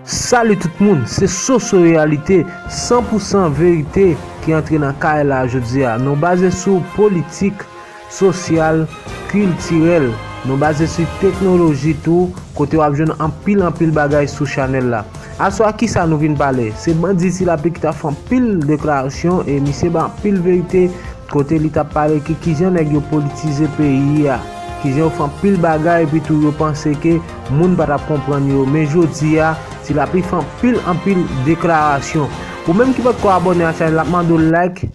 Salut tout moun se soso reyalite san pou san verite ki antre nan kay la jodi a nou baze sou politik sosyal kiltirèl nou baze su teknoloji tou kote wap jwenn anpil anpil bagay sou chanèl la aswa kisa nou vin pale se bandi ti lapli ki ta fè anpil deklarasyon e misye bay anpil verite Kote li tap pale ki kijan nèg yo politize peyi a, kijan yo fè anpil bagay epi tou yo panse ke moun pa tap konprann yo men jodi a ti lapli fè anpil anpil deklarasyon ou menm ki potko abòne a chanèl la mande w like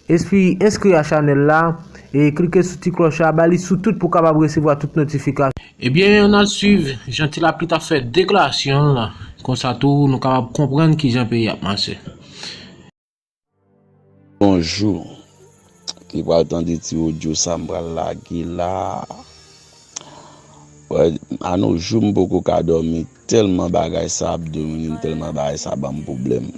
espi enskri a chanèl la e klike sou ti klòch la ba li sou tout pou kapab resevwa tout notifikasyon. Ebyen an al swiv jan ti lapli tap fè deklarasyon l konsa tou nou kapab konprann kijan peyi a ap mache. Bonjour Ki pral tande ti audio sa m pral lage la A no jou m poko ka domi telman bagay sa ap dominem telman bagay sa banm problem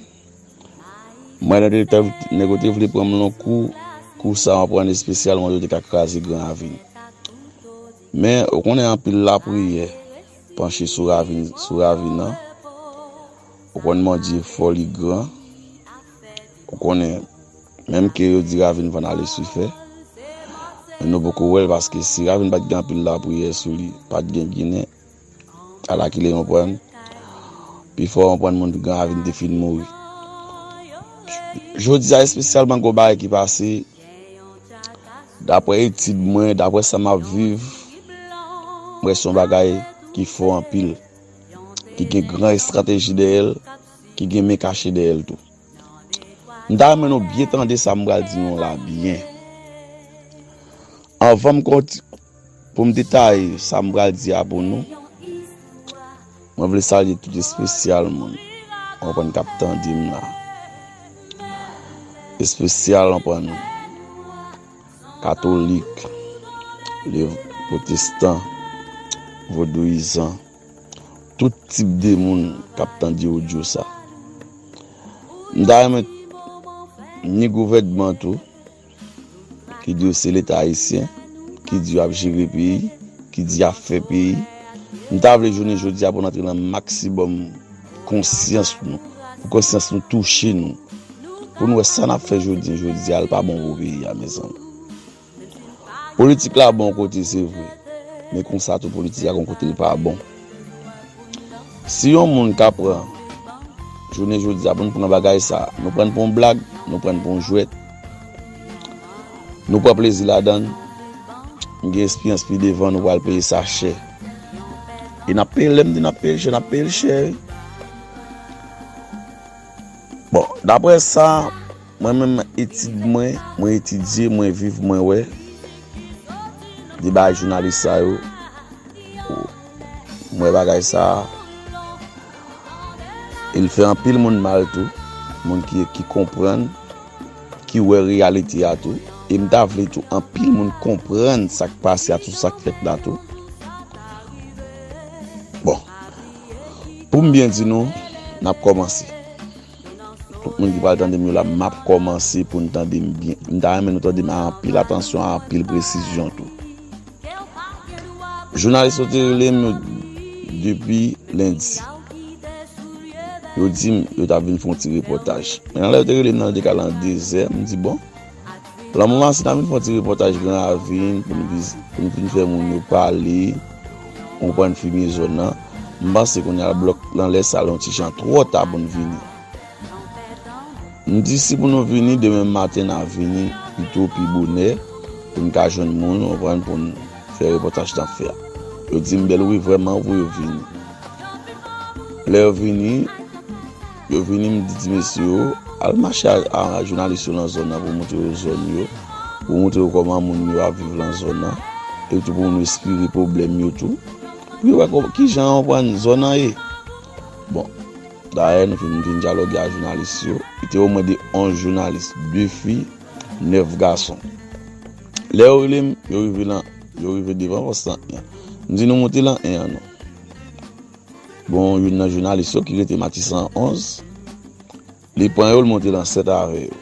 Mwen nan de tan nèg yo te vle pran m lon kou Kou sa map pran espesyal mwen yo te ka kraze gran avin Men ou konnen anpil lapriyè panche sou ravin nan Ou konn Bondye fò li gran ou konnen menm ke yo di Ravin van ale su fè men nou poko wèl paske si Ravin pat gen anpil lapriyè sou li pat gen ginen ala kile yon prann pi fò yon prann moun pi gran Ravin te fin mouri jodia espesyalman gon bagay ki pase daprè etid mwen daprè sa map viv mwen son bagay ki fò anpil. ki gen gran estrateji dèyè l, ki gen men kache dèyè l tou. M ta renmen nou byen tande sa m pral di nou la byen. Anvan m konti, pou m detaye sa m pral di a pou nou, mwen vle salye tout espesyal moun, anpwen k ap tande m la. Espesyal anpwen nou. katolik, potestan, vodouyizan, tout tip de moun kap tande odyo sa. M ta renmen ni gouvèdman tou, ki di yo se leta ayisyen, ki di yo ap jere peyi, ki di yo ap fè peyi, m ta vle jounen jodi a pou n antre nan maksibòm. konsyans nou, pou konsyans nou touche nou, pou nou wè sa nap fè jodi jodi a li pa bon pou peyi a mezanmi. Politik la bon kote se vre, men konsa tou politik la gon kote li pa bon. Si yon moun ka pran jounen jodi a pou nou pran bagay sa, nou pran pou yon blag, nou pran pou yon jwèt. Nou pran plezi ladann, nou gen espiyans pi devan nou pral peye sa chè. E nap peye, lèm di nap peye chè, nap peyel chè wi. Bon, daprè sa, mwen menm etid mwen, mwen etidye, mwen viv, mwen wè, di bay jounalis sa yo. M wè bagay sa a. E l fè anpil moun mal tou. Moun ki konprann, ki wè reyalite a tou. E m ta vle tou anpil moun konprann sa k pase a tou, sa k fèt la tou. Bon, pou m byen di nou, n ap kòmanse. Moun ki pral tandem yo la map komanse poun tandem byen m ta renmen nou tandem a anpil atansyon a anpil presizyon tou jounalis yo te relem depi lendi yo dim yo tap vin fon ti repotaj men nan lè yo te relem nan yo te kal an dezè m di bon Lanmou an se nan vin fon ti repotaj gran ravin pou nou viz pou nou vin fè moun yo pale ou pwann filme zòn nan m panse kounya la blòk nan lè sa yon ti jan twò ta pou nou vini m di si pou nou vini demen maten nan vini pito pi bonè pou nou ka jwenn moun ou pwann pou nou fè repotaj nan fè yo di m bèl wi vwèman ou pou yo vini lè yo vini. Yo vini m di ti mesye yo al mache ak jounalis yo lan zòn nan pou moutre yo zòn yo, pou moutre yo kòman moun yo ap viv lan zòn nan, epi tou pou nou esplike pwoblèm yo tou, pou yo wè kijan yo konprann zòn nan ye. Bon, dayè nou fin fin dyaloge ak jounalis yo, li te omwen de 11 jounalis, 2 fi, 9 gason. Lè yo rele m, yo rive lan, yo rive devan pòs lan 1 an. M di nou moute lan 1 an non. Gon youn nan jounalis yo ki rete Matisan 11, li pran yo, li monte lan 7 avè yo.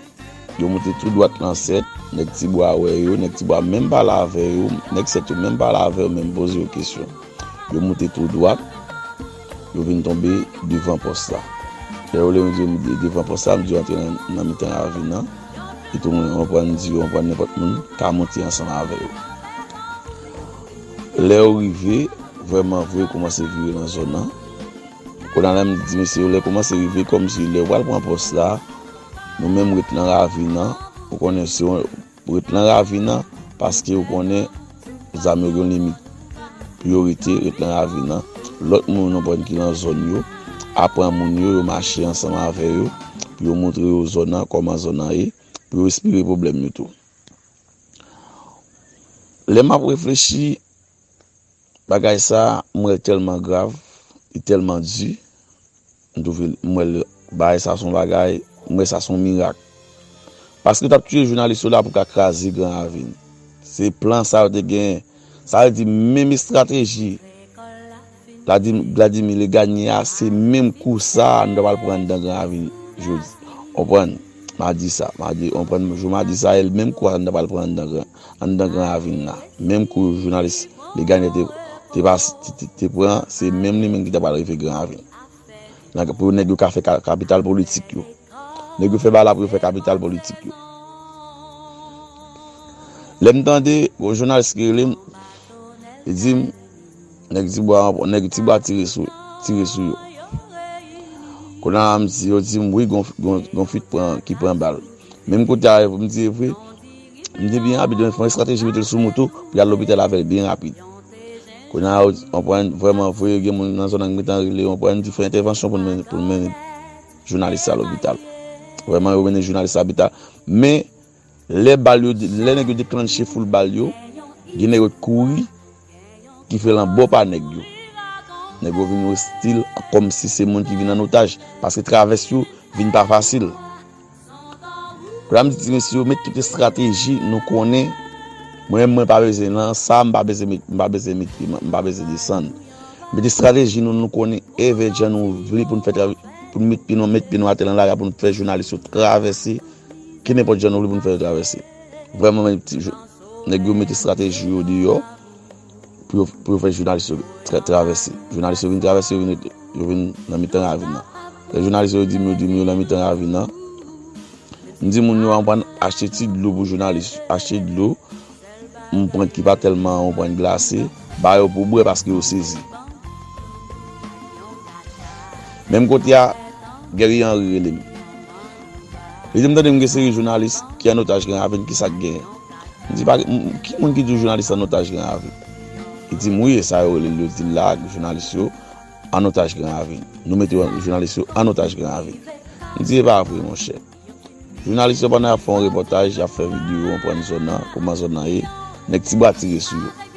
Yo monte tou dwat lan 7, nèg Ti Bwa wè yo, nèg Ti Bwa menm pale avè yo, nèg 7 yo menm pale avè yo, menm poze yo kesyon. Yo monte tou dwat, yo vin tonbe devan pòs la. Lè yo lè m di yo m di devan pòs la, m di yo antre nan mitan ravin lan, epi m reprann di yo, m reprann nenpòt moun ka monte ansanm avè yo. Lèw rive vrèman vre koumanse vire nan zòn nan Konan la m di mesye yo lè koumanse rive kòmsi lèw pral pran pòs la nou menm ret nan ravin nan ou konnen se yon ret nan ravin nan paske ou konnen zam yo gen yon limit pou yo rete ret nan ravin nan lòt moun nou konn ki nan zòn yo ap pran moun yo yo mache ansanm avè yo pou yo montre yo zòn nan kòman zòn nan ye pou yo espire pwoblèm yo tou. Lè m ap reflechi bagay sa a, m wè l tèlman grav, li tèlman di, m twouve l, m wè l, bagay sa a s on bagay, m wè sa s on mirak. Paske yo t ap tiye jounalis yo la pou ka kraze Gran Ravin. Se plan sa yo te genyen. Sa vle di menm estrateji Vladimir le gagne a se menm kou sa nou ta pral pran anndan gran ravin jodi onprann madi sa madi onprann jou madi sa el menm kou a nou ta pral pran anndan gran anndan gran ravin la menm kou jounalis le gagne te te pran se menm li menm ki ta pral rive gran ravin. Pou nèg yo ka fè kapital politik yo. Nèg yo fè ba la pou yo fè kapital politik yo. Lè m tande, yon jounalis ki rele m, li di m, nèg ti bwa, nèg ti bwa tire sou, tire sou yo. Kou la m di, yo di m, wi gon, gon fit pran, ki pran bal. Menm kote a, m di e vre. Li te byen rapid men fon estrateji metel sou moto pou yal lopital avèl byen rapid Kounye a ou anpwen vrèman vre gen moun nan zòn nan ki gentan rele ou anpwen di fè entèvansyon pou nou mennen jounalis la lopital Vrèman yo mennen jounalis la lopital men lè bal yo lè nèg yo deklannche foul bal yo gen nèg yo t kouri ki fè lan bo pa nèg yo. Nèg yo vin ostil kòm si se moun ki vin an otaj paske travès yo vin pa fasil. Kounya m di ti mesye yo met tout estrateji nou konnen mwen menm mwen pa bezwen lan sa m pa bezwen m pa bezwen mete m pa bezwen desann. Met estrateji nou nou konnen evèk jan nou vle pou n fè travè pou n met pye nou met pye nou atè lan la a pou n fè jounalis yo travèse ki nenpòt jan nou vle pou n fè yo travèse. Vrèman men ti jou. Nèg yo mete strateji yo deyò pou yo fè jounalis yo travèse. Jounalis yo vin travèse, yo vin ret, yo vin nan mitan ravin nan. Lè jounalis yo di m, yo di m yo nan mitan ravin nan. M di moun yo anprann achte ti dlo pou jounalis yo. Achte dlo, anprann ki pa tèlman anprann glase, ba yo pou bwè paske yo sezi. Menm kote a, Guerrier Henry rele m. Lide m tande m gen seri jounalis ki an otaj gran avin kisa k genyen? M di pa gen ki moun ki di w jounalis an otaj gran avin? Li di m wi e sa yo rele l yo di l la jounalis yo an otaj gran avin. Nou mete yo jounalis yo an otaj gran avin. M di e pa vre monchè. Jounalis yo pandan y ap fè yon repòtaj y ap fè videyo yon prann zòn nan kouman zòn nan ye nèg ti bwa tire sou yo.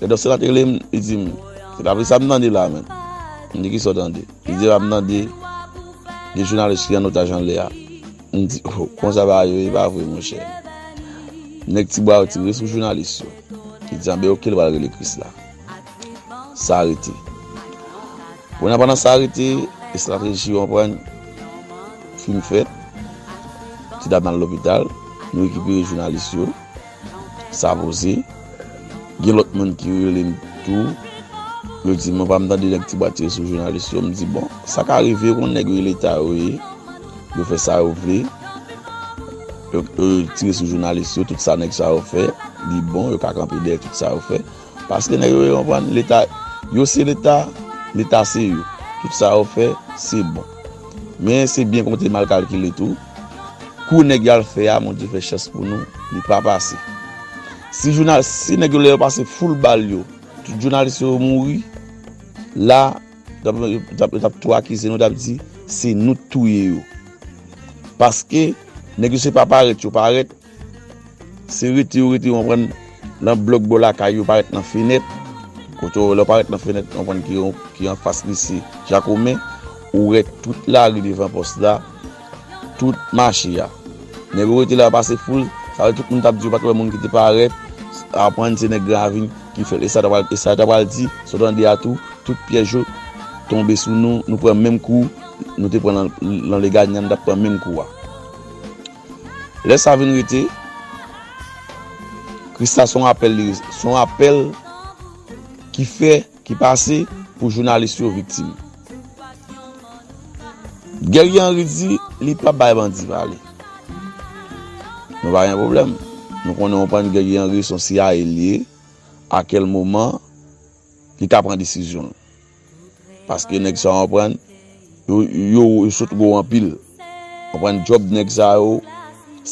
Gadò sè la te rele m, li di m, Se pa vre sa m tande la a menm? M di, Ki sa w tande? Li di, E pa m tande de jounalis ki an otaj anlè a? M di, O, konsa bagay yo ye, pa vre monchè? Nèg Tibwa yo tire sou jounalis yo. Li di, Anben oke, l pral rele Krisla. Sa rete. Kounye a pandan sa rete, estrateji w konprann fin fèt. Ti dam nan lopital, nou rekipere jounalis yo. sa voze gen lot moun ki relem tou yo di mwen pa m tande nèg ti bwa tire sou jounalis yo m di bon sa ka rive yo konn nèg yo leta yo ye yo fè sa yo vle yo tire sou jounalis yo tout sa nèg sa yo fè li bon yo ka kanpe dèyè tout sa yo fè paske nèg yo yo konn leta yo se leta leta se yo tout sa yo fè se bon men se byen konte mal kalkile tou Kou nèg yo al fè a Bondye fè chans pou nou li pa pase si jounal si nèg yo lè yo pase foul bal yo tout jounalis yo mouri la yo tap tou akize nou tap di se nou t touye yo paske nèg yo se pa parèt yo parèt Se rete yo rete, ou konprann, nan blòk bò lakay yo, parèt nan fenèt. Kote yo, lè w parèt nan fenèt, ou konprann ki yon, ki anfas lise Jakomen, ou wè tout lari devan pòs la, tout mache a. Nèg yo rete la pase foul, sa vle di tout moun t ap di yo pa t wè moun ki te parèt, ou konprann, se nèg Gran Ravin ki fè l. E sa yo ta pral di, sa w tande a tou, tout pyèj yo tonbe sou nou, nou pran menm kou nou te pran nan Leganyan, nou t ap pran menm kou a. Lè sa vin rete, Christa son apèl li resevwa, son apèl ki fè, ki pase pou jounalis yo viktim. Guerrier Henry di li pap bay bandi pale. Nou pa gen pwoblèm. Nou konnen yon pann Guerrier Henry son CIA li ye, a kèl moman li ka pran desizyon l. Paske nèg sa yo konprann yo sòt gwo anpil konprann djòb nèg sa yo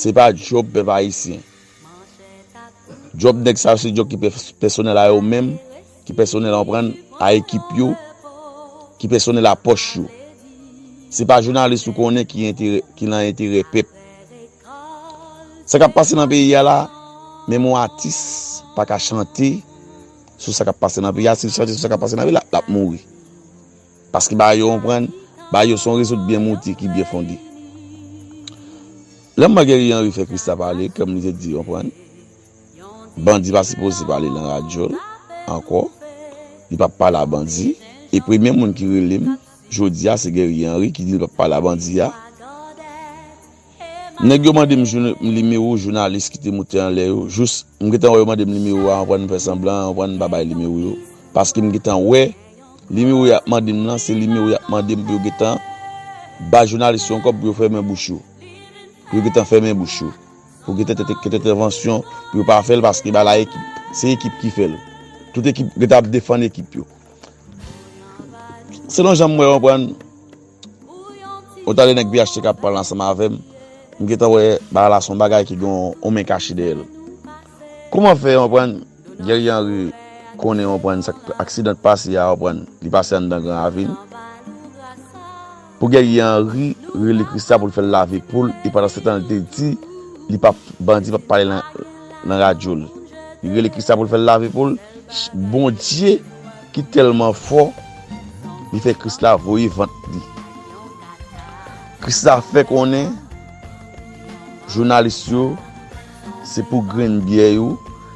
se pa djòb pèp ayisyen djòb nèg sa yo se djòb ki pèsonèl a yo menm ki pèsonèl konprann a ekip yo ki pèsonèl a pòch yo se pa jounalis ou konnen ki enterè ki lan enterè pèp sa kap pase nan peyi a la menm yon atis pa ka chante sou sa kap pase nan peyi a, si l chante sou sa kap pase nan vil a, lap mouri. Paske bagay yo anprann, bagay yo son rezout byen mouti ki byen fondi. Lè Marguerite Henry fè Christa pale, kèm li te di anprann, bandi pa sipoze pale nan radyo l, ankò, li pap pale a bandi, e premye moun ki rele m, jodi a, se Guerrier Henry ki di l pap pale a bandi a, Nèg yo mande m joune m nimewo jounalis ki te moute anlè yo jous m gentan wè yo mande m nimewo a anvan m fè sanblan anvan m pa bay nimewo yo paske m gentan wè nimewo y ap mande m lan se nimewo y ap mande m pou yo gentan bay jounalis yo yon kòb pou yo fèmen bouch yo pou yo gentan fèmen bouch yo pou gentan te te te tèvansyon pou yo pa fè l paske ba la ekip se ekip ki fè l tout ekip gentan ap defann ekip yo selon jan m wè w anvan Ou tande nèg pht kap pale ansanm avèm m gentan wè bagay la son bagay ki gen yon men kache dèyèl kouman fè yon prann Guerrier Henry konnen yon prann sak aksidan k pase a yon prann li pase anndan gran ravin pou Guerrier Henry rele Christian poul fèl lave poul e pandan se tan lte di li pap bandi pap pale nan nan radyol li rele Christian poul fèl lave poul Bondye Ki tèlman fò, li fè Kris la voye vant li. Kris la fè konnen, jounalis yo, se pou grenn byè yo,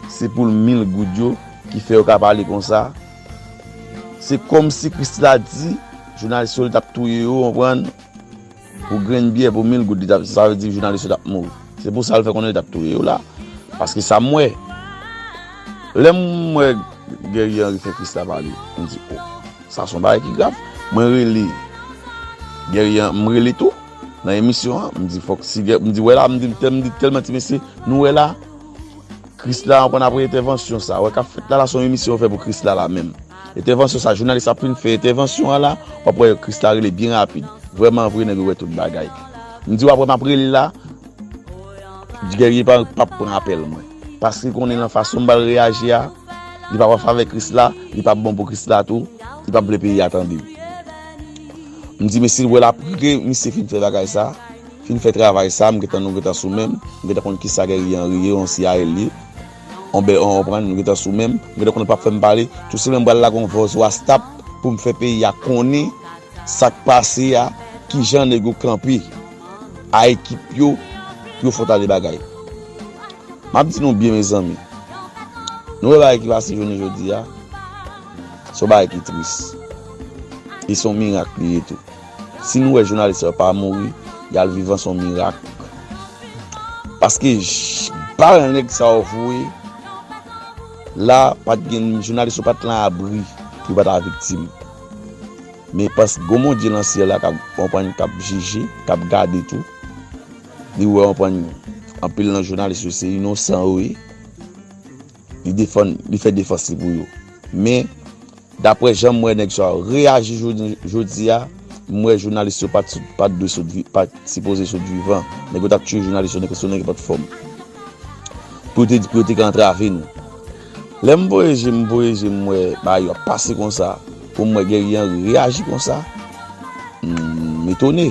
se pou mil goud yo, ki fè yo ka pale konsa. Se kòm si Kris la di, jounalis yo li tap touye yo, ou konprann? Pou grenn byè pou mil goud li tap sa vle di jounalis yo tap mouri se pou sa l fè konnen li tap touye yo la paske sa m wè lè m wè Guerrier Henri fè Christa pale m di oh sa son bagay ki grav mwen rele Guerrier m rele tou nan emisyon an m di fòk si m di wè la m di m di tèlman ti mesye nou wè la Christa an konn apre entèvansyon sa wè kap fèt la la son emisyon yo fè pou Christa la menm. Entèvansyon sa jounalis ap fin fè entèvansyon an la wap wè Christa rele byen rapid vrèman vre nèg yo wè tout bagay m di wap wè map rele la Guerrier pap pran apèl mwen paske li konnen nan fason m bal reyaji a li pap anfavè Chrisla li pap bon pou Chrisla tou li pap vle peyi a tande l m di men sil wè lap rele misye fin fè bagay sa fin fè travay sa m gentan nou gentan sou menm m gentan konn kisa Guerrier Henry ye yon CIAL li. On bè on konprann nou gentan sou menm, m gentan konn ou pap fèm pale, tou se menm bal lage on vòz wastap poum fè peyi a konnen sak pase a kijan nèg yo kanpe a ekip yo pou yo fò tande bagay map di nou byen mezanmi nou wè bagay ki pase jounen jodi a son bagay ki tris e son mirak li ye tou. Si nou wè jounalis sa yo pa mouri, yal vivan son mirak. Paske bal nèg sa yo voye la pat gen jounalis yo pat lan abri pou yo pa ta viktim. Men paske gon Bondye lan syèl la kap anpwen kap jije, kap gade tou. Li wè anpwen anpil lan jounalis yo se inosan yo ye. li defann li fè defans li pou yo men daprè janm wè nèg sa yo reyaji jounen jodi a m wè jounalis yo pat pat dwe sot vi pat sipoze sot vivan nèg yo tap tiye jounalis yo sou nèg ki pat fòm pou yo te pou yo te ka antrave nou lèm voye je m voye je m wè bagay yo ap pase konsa pou m wè Guerrier Henry reyaji konsa m etone.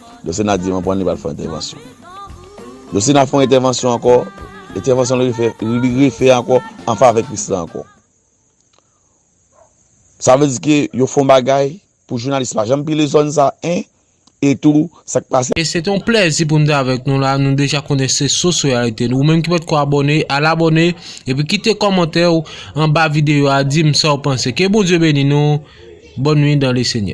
Josena di mwen pran li pral fè yon entèvansyon. Josena fè yon entèvansyon ankò, entèvansyon li refè, li refè ankò an favè Christian ankò. Sa vle di ke yo fè yon bagay pou jounalis pa janm pile zòn sa 1 e tou sa k pase. Se te yon plèzi pou m te avèk nou la, nou deja konnen se sous reyalite nou. Ou menm ki potko abòne, al abòne, epi kite kòmantè ou anba videyo a di m sa ou panse. Ke Bondye beni nou, bòn nuit dan le Senyè.